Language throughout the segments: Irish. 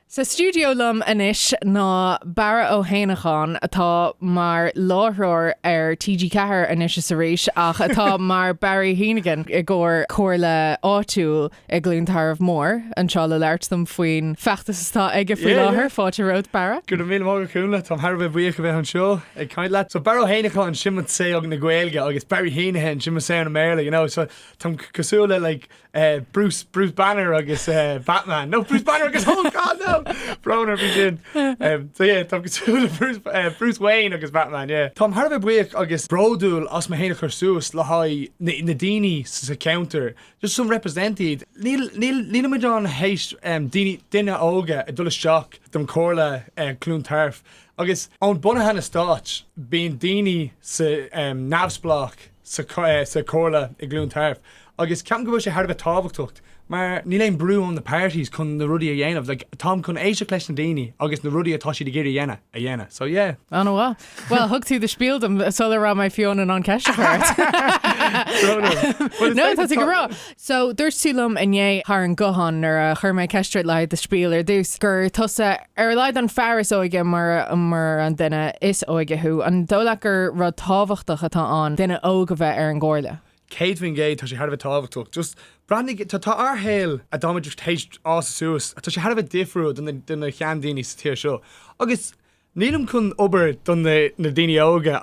Sa stiúideo liom anois ná Barra Ó hÉanacháin, atá mar láithreoir ar TG Ceathair anois is arís ach atá mar Barry Heneghan i gcomhair Comhairle Áitiúil i gCluain Tarbh Mór anseo le labhairt liom faoin feachtas atá aige faoi láthair. Fáilte romhat, Barra. Go raibh míle maith agat, a Chúnla. Táim thar a bheith buíoch a bheith anseo ag caint leat. So, Barra Ó hÉanacháin, sin mo tsaol na Gaeilge agus Barry Heneghan, sin mo saol na mBéarla, you know. So, táim cosúil le like, Eh, Bruce, Bruce Banner agus eh, Batman. No, Bruce Banner agus Hulk, god no! Brón orm faoi sin. Em, so yeah, táim cosúil le Bruce, eh, Bruce Wayne agus Batman, yeah. Táim thar a bheith buíoch agus bródúil as mé féin a chur suas le haghaidh na, na daoine sa, sa cheantar. Just some represent iad. Níl, níl, nílimid ann théis, em, daoine, duine óga ag dul isteach don Chomhairle, i gCluain Tarbh. Agus ón bunú an Stáit, bíonn daoine sa, em, neamhspleách sa, eh, sa Chomhairle i gCluain Tarbh. Agus ceapaim go bhfuil sé thar a bheith tábhachtacht mar níl aon brú ón the parties chun na rudaí a dhéanamh. Like, táim chun éisteacht leis na daoine agus na rudaí atá siad ag iarraidh a dhéanamh, a dhéanamh. So yeah. Ana-mhaith. Bhuel, thug tú do spiel dom sular raibh mé fiú in ann an ceist a chur ort. a chur ort. Well, it's No, tá tú go bhreá. basically So, dúirt tú liom inné thar an guthán nuair a chuir mé an ceist i leith do spiel ar dtús gur tusa ar a laghad an fear is óige mar mar an duine is óige thú. An dóigh leat gur rud tábhachtach atá ann duine óg a bheith ar an gcomhairle? 100%, tá sé thar a bheith tábhachtach. Just, breathnaigh, tá, tá ár shaol, a dtáimid tar éis fás suas, tá sé thar a bheith difriúil do na, do na sheandaoine sa tír seo. Agus, nílim chun obair do na, na daoine óga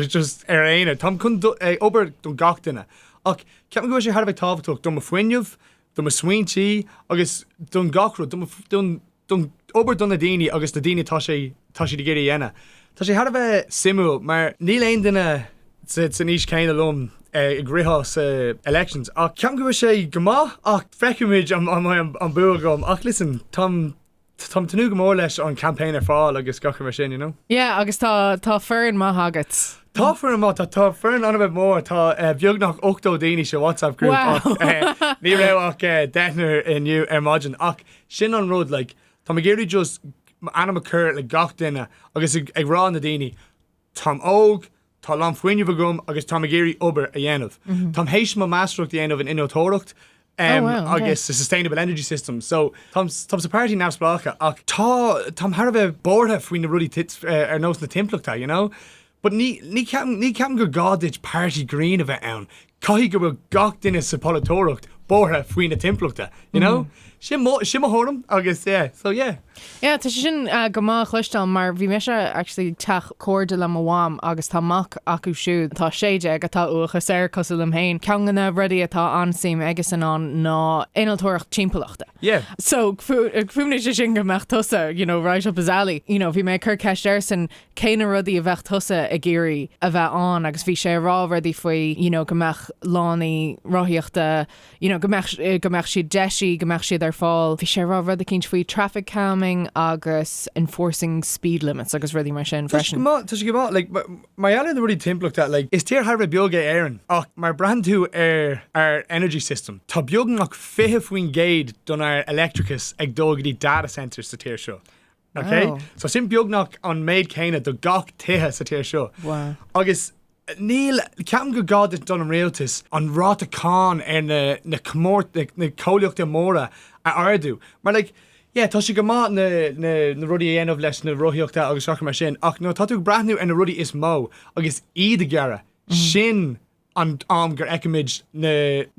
just amháin, táim chun obair do gach duine. Ach, ceapaim go bhfuil sé thar a bheith tábhachtach do mo fuinneamh, do mo smaointí agus don gach rud, don, don, don obair do na daoine agus na daoine atá sé, tá siad ag iarraidh a dhéanamh. Tá sé thar a bheith suimiúil mar níl aon duine sa, san aois chéanna liom ag ritheadh sa elections ach ceapaim go bhfuil sé go maith ach feicfimid an mbeidh an bua agam ach listen táim, Táim ag tnúth go mór leis an campaign ar fáil agus gach rud mar sin you know. Yeah agus tá tá foireann maith agat. Tá foireann maith tá tá foireann an-mhaith mór tá eh, beagnach 80 daoine sa WhatsApp group Wow. ach eh, ní raibh ach eh, deichniúr inniu ar maidin ach sin an rud like tá mé ag iarraidh just m'ainm a chur le gach duine agus ag, ag rá na daoine Táim óg, tá a lán fuinnimh agam agus táim ag iarraidh obair a dhéanamh. Táim tar éis mo máistreacht a dhéanamh in innealtóireacht agus sustainable energy systems so táim sa pairtí neamhspleácha ach tá táim thar a bheith buartha faoi na rudaí ar nós na timpeallachta you know but ní ceapaim gur gá duit pairtí green a bheith ann Caithfidh go bhfuil gach duine sa polaiteoireacht buartha faoi na timpeallachta, you know? Sin mo thuairim agus yeah, so yeah. Yeah, tá sé sin go maith a chloisteáil mar bhí mise actually ag teach cairde le mo mham agus tá mac acu siúd atá 16 atá uathachas air cosúil liom féin. Ceann de na rudaí atá an-suim aige san ann ná innealtóireacht timpeallachta. Yeah. So, chuimhnigh sé sin go mbeadh tusa, you know, right up his alley. You know, bhí mé ag cur ceist airsan, cé na rudaí a bheadh tusa ag iarraidh a bheith ann agus bhí sé a rá rudaí faoi you know go mbeadh lánaí rothaíochta you know go mbeadh go mbeadh siad deisithe go mbeadh siad ar fáil bhí sé a rá rud eicínt faoi traffic calming agus enforcing speed limits agus rudaí mar sin freisin. Tá sé go maith, like mar gheall ar na rudaí timpeallachta like is tír thar a bheith beag é Éireann ach mar breathann tú ar ár energy system tá beagnach 20% don ár leictreachas ag dul go dtí data centres sa tír seo Ok? So sin beagnach an méid céanna do gach tithe sa tír seo. Agus níl, ceapaim gur gá duit don Rialtas an ráta cáin ar na comhlachta móra a ardú. Mar like, yeah, tá sé go maith na rudaí a dhéanamh leis na rothaíochta agus a leithéid mar sin ach nuair atá tú ag breathnú ar na rudaí is mó agus iad a ghearradh, sin an t-am gur fheicimid na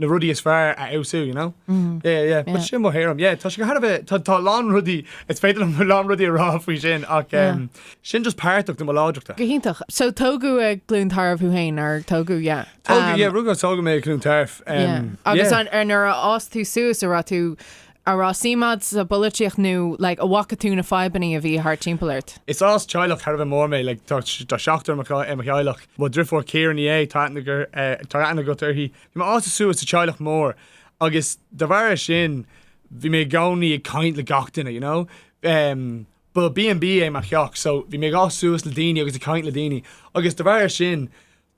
rudaí is fearr a fheabhsú, you know? Yeah, yeah, yeah. Sin mo thuairim. Yeah, tá sé go thar a bheith, tá, tá a lán rudaí, is féidir liom a lán rudaí a rá faoi sin ach em sin just páirteach de mo láidreachta. Go hiontach. So tógadh i gCluain Tarbh thú fhéin, nár tógadh? Yeah. Tógadh, yeah, rugadh agus tógadh mé i gCluain Tarbh. Em, yeah. Yeah, agus an, ar nuair a d'fhás tú suas an raibh tú Ar raibh suim a'd sa bpolaitíocht nó like an bhfaca tú na fadhbannaí a bhí thart timpeall ort? Is as teaghlach thar a bheith mór mé, like tá seachtar i mo theaghlach. Mo dhriofóir Ciara Ní É, tá aithne agat uirthi. Bhí mé ag fás suas sa teaghlach mór agus de bharr sin bhí mé i gcónaí ag caint le gach duine, you know. Ba B&B é mo theach so bhí mé ag fás suas le daoine agus ag caint le daoine agus de bharr sin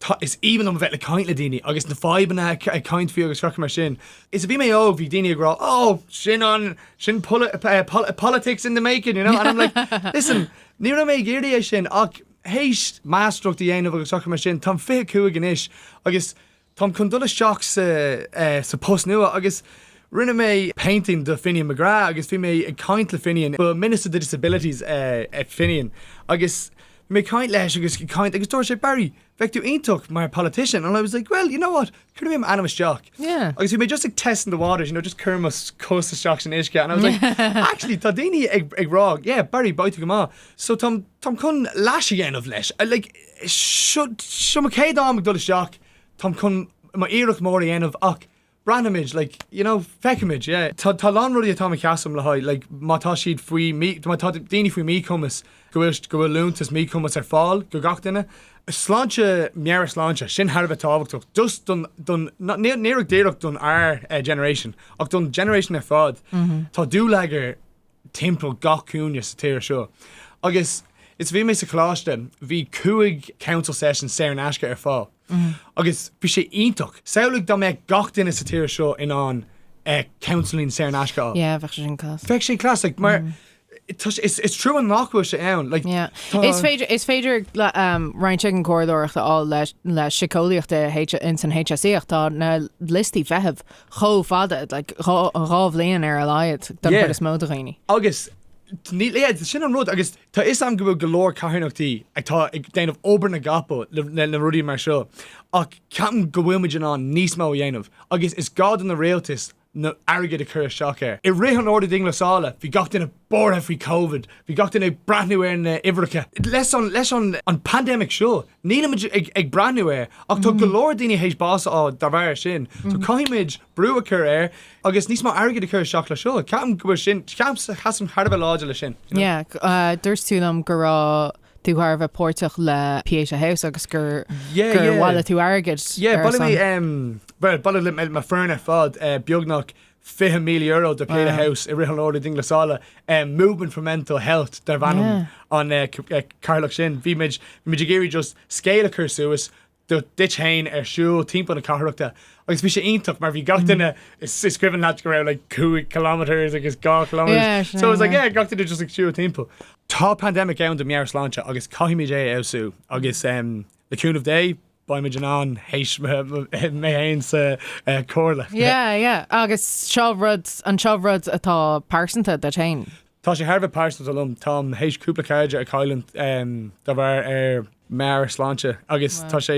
Tá, is aoibhinn liom a bheith ag caint le daoine agus na fadhbanna ag caint faoi agus curca mar sin. Nuair a bhí mé óg bhí daoine ag rá ó sin an, sin politics in the making you know and I'm like listen ní raibh mé ag iarraidh é sin ach théis máistreacht a dhéanamh agus curca mar sin táim fiche cúig anois agus táim chun dul isteach sa, sa post nua agus rinne mé painting do Finian McGrath agus bhí mé ag caint le Finian, ba Minister of Disabilities é Finian agus mé ag caint leis agus ag caint agus dúirt sé Barry bheadh tú iontach mar politician and I was like well you know what cuirfidh mé m'ainm isteach Yeah. agus bhí mé just like testing the waters you know just ag cur mo chos isteach san uisce and I was like actually tá daoine ag ag rá yeah Barry beidh tú go maith so táim táim chun leas a dhéanamh leis like seo seo mo chéad am ag dul isteach táim chun mo iarracht mór a dhéanamh ach Breathnaímid, like, you know, feicimid, yeah. Tá, tá a lán rudaí atá, atá mé ag seasamh le haghaidh, like, má tá siad faoi mí, má tá daoine faoi mhíchumas, go bhfuil, go bhfuil liúntas míchumais ar fáil do gach duine. Sláinte, meabhairshláinte, sin thar a bheith tábhachtach, just don, don, níl, ní díreach don ár generation ach don generation ar fad. Tá dúlagar timpeall gach cúinne sa tír seo agus nuair a bhí mé sa choláiste bhí cúig counselling sessions saor in aisce ar fáil agus bhí sé iontach. Samhlaigh dá mbeadh gach duine sa tír seo in ann counselling saor in aisce a fháil. Yeah, bheadh sé sin class. Bheadh sé class like mar tá sé, is trua nach bhfuil sé ann like tá. Yeah. Is féidir, is féidir roinnt den chomhairleoireacht a fháil le síceolaíocht ins an HSE ach tá na liostaí feithimh chomh fada, like dhá, dhá bhliain ar a laghad don chuid is mó de dhaoine. Agus níl, yeah, sin an rud agus tá 'fhios agam go bhfuil go leor carthanachtaí atá ag déanamh obair na gcapall le, le, le rudaí mar seo ach ceapaim go bhfuilimid in ann níos mó a dhéanamh agus is gá don Rialtas an airgead a chur isteach ann. I rith an ordú dianghlasála bhí gach duine. buartha faoi Covid. Bhí gach duine ag breathnú ar na huimhreacha. Leis an pandemic seo nílimid ag breathnú air ach tá go leor daoine théis bás a fháil dá bharr sin. So caithfimid brú a chur air agus níos mó airgid a chur isteach le seo. Ceapaim go bhfuil sin, sheasaim thar a bheith láidir le sin. Yeah, dúirt tú liom go raibh tú thar a bheith páirteach le Pieta House agus gur bhailigh tú airgead ar a son. Yeah, bhailigh mé, bhuel bhailigh mé le mo foireann ar fad beagnach €20,000 do Pieta House i rith an ordú dianghlasála movement for mental health darb ainm an cathaoirleach sin. Bhí muid ag iarraidh just scéal a chur suas díot fhéin ag siúl timpeall na cathrachta agus bhí sé iontach mar bhí gach duine ag scríobh chugat go raibh like cúig kilometres agus deich kilometres so it was like yeah gach duine just ag siúl timpeall. Tá pandemic ann do meabhairshláinte agus caithfimid é a fheabhsú agus le cúnamh Dé beimid in ann, théis mé féin sa Chomhairle. Yeah, yeah. Agus seo rud, an seo rud atá pearsanta duit féin? Tá sé thar a bheith pearsanta liom. Táim théis cúpla cairde a chailliúnt dá bharr meabhairshláinte agus tá sé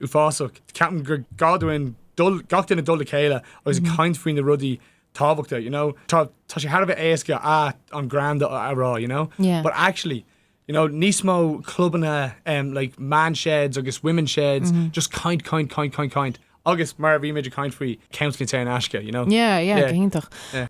uafásach. Ceapaim gur gá dúinn dul, gach duine dul le chéile agus ag caint faoi na rudaí tábhachta, you know. Tá sé thar a bheith éasca, ah, I'm grand a rá, you know. Yeah. But actually, You know, níos mó clubanna em like man sheds agus women sheds just caint caint caint caint caint agus mar a bhí muid ag caint faoi counselling saor in aisce, you know. Yeah, yeah, go hiontach.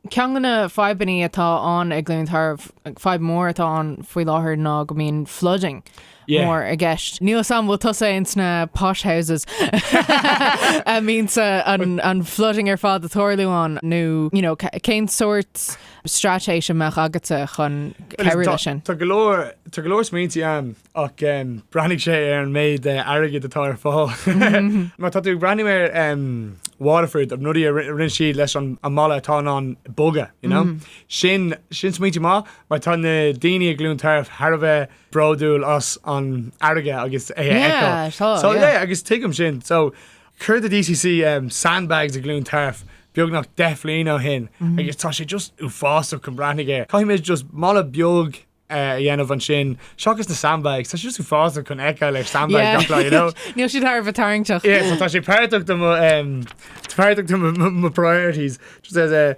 Ceann de na fadhbannaí atá ann ag Cluain Tarbh, like fadhb mhór atá ann faoi láthair ná go mbíonn flooding mór i gceist. Níl 'fhios a'm, bhfuil tusa ins na posh houses a mbíonn an flooding ar fad ag tarlú ann nó, you know, cén sórt straitéis a mbeadh agatsa chun Well, cabhrú tá, leis sin. tá go leor, tá go leor smaointí agam ach breathnaigh sé ar an méid airgid atá ar fáil. Má tá tú ag breathnú ar Waterford na rudaí a rinne siad leis an mballa atá in ann bogadh, you know, sin, sin smaointí maith mar tá na daoine i gCluain Tarbh thar a bheith bródúil as an fharraige agus é a fheiceáil. Yeah, tá, So yeah. yeah, agus tuigim sin. So, Chuir the DCC sandbags i gCluain Tarbh beagnach deich bhliain ó shin agus tá sé just uafásach chun breathnaigh air. Caithfidh muid just balla beag a dhéanamh ansin seachas na sandbags. Tá sé just uafásach chun fheiceáil ar sandbag gach lá, you know? Yeah, níl siad thar a bheith tarraingteach. Yeah, so tá sé páirteach do mo, em, páirteach do mo, mo, mo priorities. Just as a.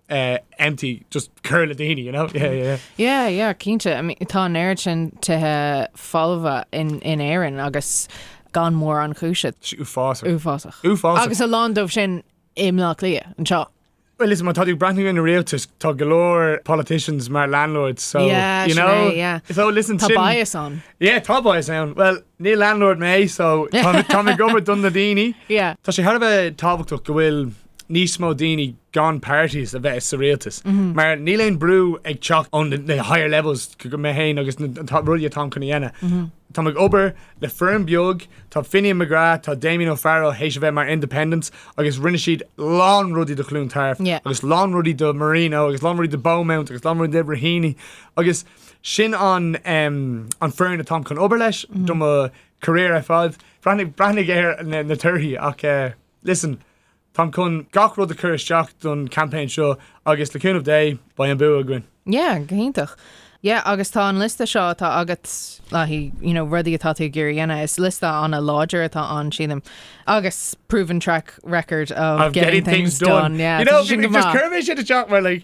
uh, empty, just cur le daoine, you know? Yeah, yeah, yeah. Yeah, yeah, cinte. I mean, tá an oiread sin tithe folmha in, in Éirinn agus gan mórán cúise. Tá sé uafásach. Uafásach. Uafásach. Agus a lán dóibh sin i mBaile Átha Cliath, anseo. Well, listen, má tá tú ag breathnú ar an rialtas, tá go leor politicians mar landlords, so, Yeah, you sin know? é, yeah. So, listen, Tá sin- bias ann. Yeah, tá bias ann. Well, Ní landlord mé so táim ag obair don na daoine. Tá sé thar a bheith tábhachtach go bhfuil níos mó daoine gan parties a bheith sa rialtas mar níl aon brú ag teacht ón na higher levels go mé féin agus na rudaí atáim chun a dhéanamh. Táim ag obair le foireann beag, tá Finian McGrath, tá Damian O'Farrell tar éis a bheith mar independents agus rinne siad lán rudaí do Chluain Tarbh agus lán rudaí do Marino agus lán rudaí do Beaumont agus lán rudaí do Raheny agus sin an foireann atáim chun obair leis do mo career ar fad. Breathnaigh ar na torthaí ach listen táim chun gach rud a chur isteach don campaign seo agus le cúnamh Dé beidh an bua againn. Yeah, go hiontach. Yeah, agus tá an liosta seo atá agat le haghaidh, you know, rudaí atá tú ag iarraidh a dhéanamh, is liosta an-láidir atá ann sílim. Agus proven track record of, of getting, getting things, things done. done. Yeah, you know, sin go maith. Chuir mé sin isteach mar like,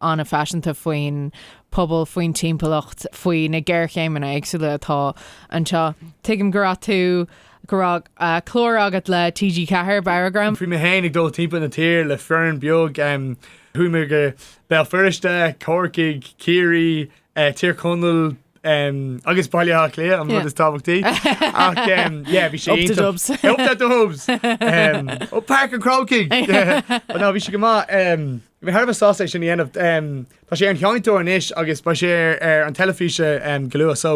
an-phaiseanta faoin pobal, faoin timpeallacht, faoi na géarchéimeanna éagsúla atá anseo. Tuigim go raibh tú, go raibh clár agat le TG Ceathair, Barragram. Bhí mé féin ag dul timpeall na tíre le foireann beag. Chuaigh mé go Béal Feirste, Corcaigh, Ciarraí. Tír Chonaill um, agus Baile Átha Cliath an rud is tábhachtaí ach um, yeah, bhí sé Up the dubs. Up the dubs. um, ó Páirc an Chrócaigh. But no bhí sé go maith um, bhí mé thar a bheith sásta é sin a dhéanamh um, Tá sé ar an seinnteoir anois agus beidh sé ar, ar an teilifís um, go luath so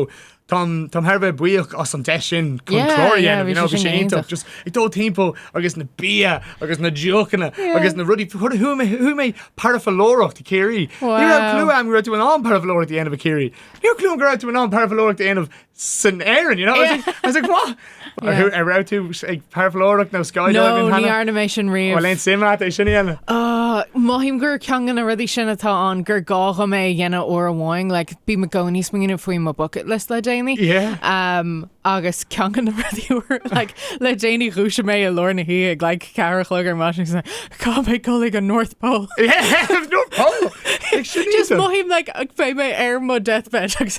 Táim táim thar a bheith buíoch as an deis sin chun Yeah, clár a yeah, dhéanamh, bhí you know, sé bhí sin sé go iontach hiontach. just ag dul timpeall agus na bia agus na deochanna Yeah. agus na rudaí chuaigh mé chuaigh mé ag parafaoileoireacht i Ciarraí. Ní raibh Wow. clue agam go raibh tú in ann parafaoileoireacht a dhéanamh i Ciarraí. Ní raibh clue go raibh tú in ann parafaoileoireacht a dhéanamh san Éirinn, you know? I was Yeah. like- I was like, what? Yeah. An raibh tú ag parafhaoileoireacht nó Sky No, Diving ní cheana? dhearna mé sin riamh. Bhfuil aon suim agat é sin a dhéanamh? Ah, mothaím gur ceann de na rudaí sin atá ann gur gá dhom é a dhéanamh uair amháin, like, bím i gcónaí ag smaoineamh faoi mo bucket list le déanaí. Yeah. Um, agus ceann de na rudaí uair, like, le déanaí dhúisigh mé i lár na hoíche ag like ceathair a chlog ar maidin agus na, caithfidh mé dhul chuig an North Pole. Yeah, no problem. Ag sin Just íteal. mothaím like go mbeidh mé ar mo deathbed agus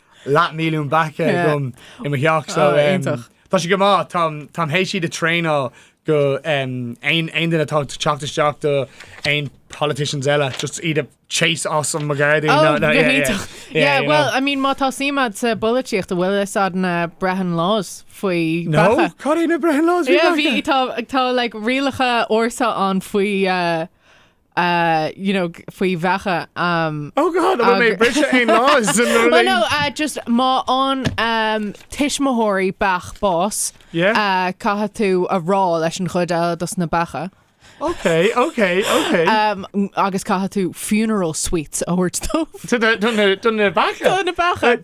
Leathmhilliún beach agam i mo theach so tá sé go maith. Táim th'éis iad a thraenáil go aon duine atá ag teacht isteach do aon politicians eile just iad a chase as mo ghairdín. Go hiontach. Yeah bhuel I mean má tá suim a'd sa bpolaitíocht an bhfuil fhios a'd na Brehon Laws faoi bheacha. No cad é na Brehon Laws faoi bheacha? Tá like rialacha ársa ann faoi you know, faoi bheacha. Um. Oh God, an bhfuil mé ag briseadh aon laws sin nuair a Well no, léim? uh, just má fhaigheann um, tuismitheoirí beach bás, Yeah. uh, caithfidh tú a rá leis an chuid eile dos na beacha. Ok, ok, ok. Um, agus caithfidh tú funeral sweets a thabhairt dóibh. Tá- tá- tá na- tá na beacha. Tá na beacha.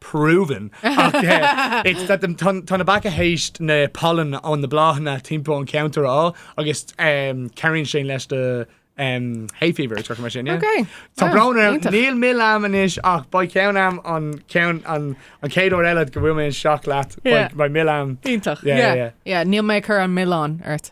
proven ach it's that them tá tá na beacha th'éis na pollen ó na bláthanna timpeall an ceantar a fháil agus em, cabhraíonn sin leis do em, hay fever is mar sin yeah? Ok. Tá Ah, brón orm, iontach. níl mil a'm anois ach beidh ceann a'm an ceann an an chéad uair eile go bhfuil mé isteach leat Yeah. beidh beidh mil a'm Iontach. Yeah, yeah, yeah. yeah. Níl mé ag cur an milleán ort.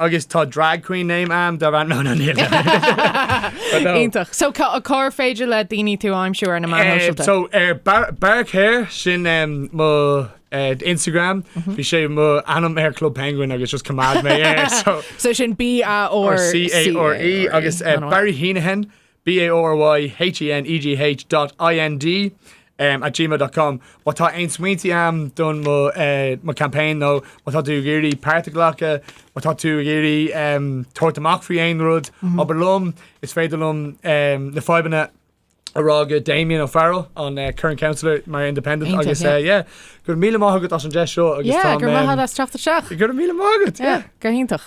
Agus tá drag queen name a'm darb ainm, no no níl no but no. Iontach. So cá cár féidir le daoine tú aimsiú ar na meáin Eh, shóisialta? so ar bar, barcare sin um, mo eh, Instagram Mhm. bhí sé mo ainm ar Club Penguin agus just choimeád mé é so So sin B A R C A R E agus eh, Barry Heneghan BARYHENEGH dot IND em at gmail dot com má tá aon smaointe a'm don mo eh mo campaign nó má tá tú ag iarraidh páirt a ghlacadh má tá tú ag iarraidh em tabhairt amach faoi aon rud abair liom is féidir liom em na fadhbanna a rá go Damian O'Farrell an eh current councillor mar independent Iontach, agus yeah. eh yeah go raibh míle maith agat as an deis seo agus Yeah, táim go raibh maith a'd as teacht isteach. go raibh míle maith agat Yeah, yeah. go hiontach.